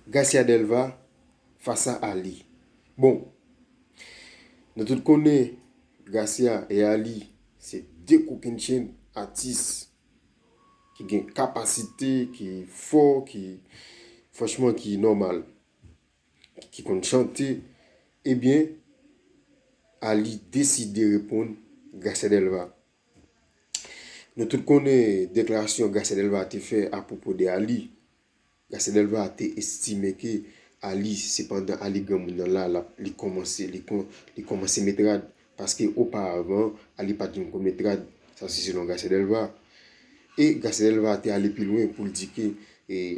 Garcia Delva fasa Ali bon nou tout konnen Garcia e Ali se 2 kokenn chen atis ki gen kapasite ki fò ki franchman ki nòmal ki konn chante ebyen Ali deside reponn Garcia Delva. Nou tout konnen deklarasyon Garcia Delva te fè apwopo de Aly. Garcia Delva te estime ke Aly, se pandan Aly granmoun nan la, li kòmanse, li kòmanse met rad. Paske oparavan, Aly pa t janm konn met rad. Sa se selon Garcia Delva. E Garcia Delva te ale pi lwen pou l di ke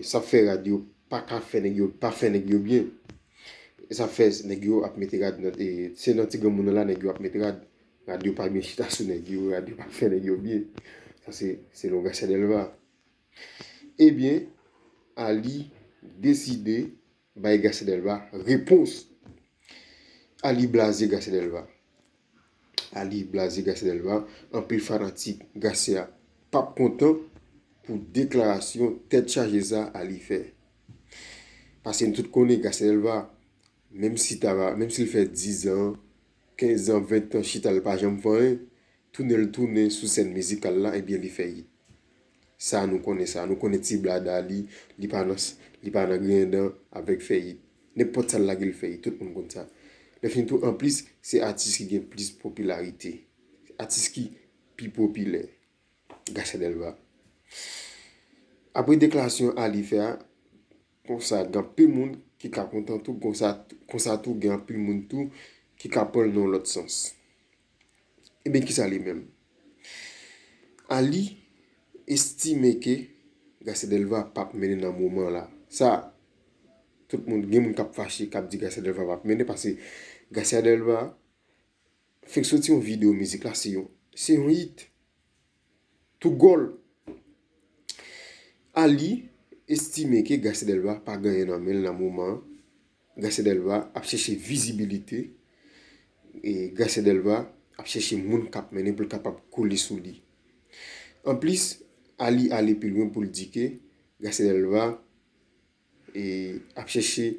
sa fè rad yo pa ka fè nèg yo, pa fè nèg yo byen. E sa fè nèg yo ap mete rad nan, se nan ti granmoun nan la nèg yo ap met rad. Radyo pa byen chita sou nèg yo, radyo pa fè nèg yo byen. Sa se selon Garcia Delva. Ebyen, Arly deside bay Garcia Delva repons. Arly blaze Garcia Delva. Arly blaze Garcia Delva. Anpil fanatik Garcia pap kontan pou deklarasyon tèt chaje sa Arly fè. Pase n tout konnen Garcia Delva, menm si l fè 10 an, 15 zan 20 tan chital pa janm vanyen tounenl tounen sou sèn mizikal la ebyen li fè yit sa nou konnen sa nou konnen ti blada li li pa nan li pa nan griyen dan avèk fè yit nenpòt sal lagel fè yit tout moun konn sa lè fini tou anplis se atis ki gen plis popilarite atis ki pi popilè Gracia Delva apre deklarasyon Arly fè a Konsa gen anpil moun ki ka kontan tou konsa konsa tou gen anpil moun tou ki ka pranl nan yon lòt sans. Ebyen kisa li menm? Ali estime ke Garcia Delva pap mennen nan moman la. Sa tout moun gen moun kap fache kap di Garcia Delva pap mennen pase Garcia Delva fenk soti yon video mizik la se yon se yon hit. Tougol a li estime ke Garcia Delva pa gen anyen nan men l nan moman an. Garcia Delva ap chèche vizibilite. Garcia Delva ap chèche moun k ap mennen pou l kapab kole sou li. Anplis, a li ale pi lwen pou l di ke Garcia Delva ap chèche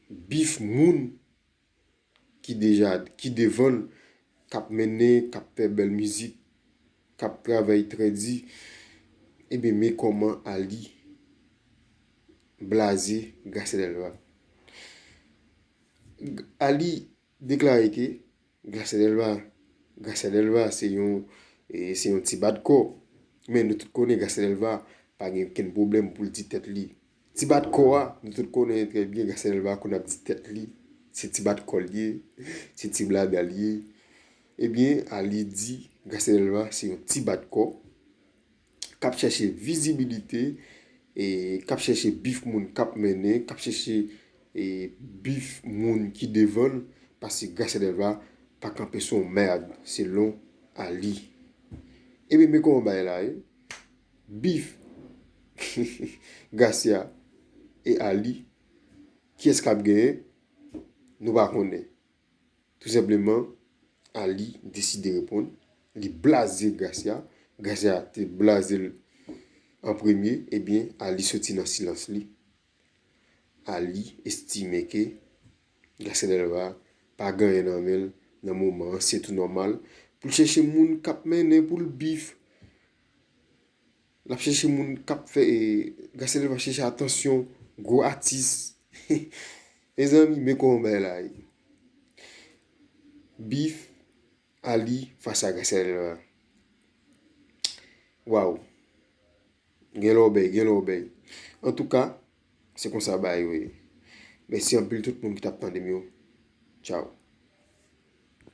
bif moun ki deja ki devan l k ap mennen k ap fè bèl mizik k ap travay trè di ebyen men kòman Aly blaze Gracia Delva Aly deklare ke Gracia Delva Gracia Delva se yon se yon ti bat kò men nou tout konnen Gracia Delva pa gen okenn pwoblèm pou l di tèt li Ti bat kò a, nou tout konnen trè byen Gracia Delva konn ap di tèt li se ti bat kò l ye, se ti blada l ye. Ebyen ale di Gracia Delva se yon ti bat kò k ap chèche vizibilite, k ap chèche bif moun k ap mennen, k ap chèche bif moun ki devan l paske Gracia Delva pa kanpe sou yon mèrd selon ale. Ebyen men kòman bagay la ye. Beef Gracia et Arly kiyès kap genyen nou pa konnen tou senpleman Arly deside reponn li blaze Gracia, Gracia te blazel an premye ebyen Arly soti nan silans li Arly estime ke Gracia Delva pa gen anyen nan menl nan moman an se tou nòmal poul chèche moun kap mennen poul beef Lap chèche moun kap fè e Gassele va chèche atansyon gwo atis. Mezanmi men kòman bagay la ye. Beef Ali fas a Gassele va. Waw. Gen lò bèy, gen lò bèy. An tou ka, se konsa bagay yo ye. Mèsi anpil tout moun ki tap tande m yo. Chow.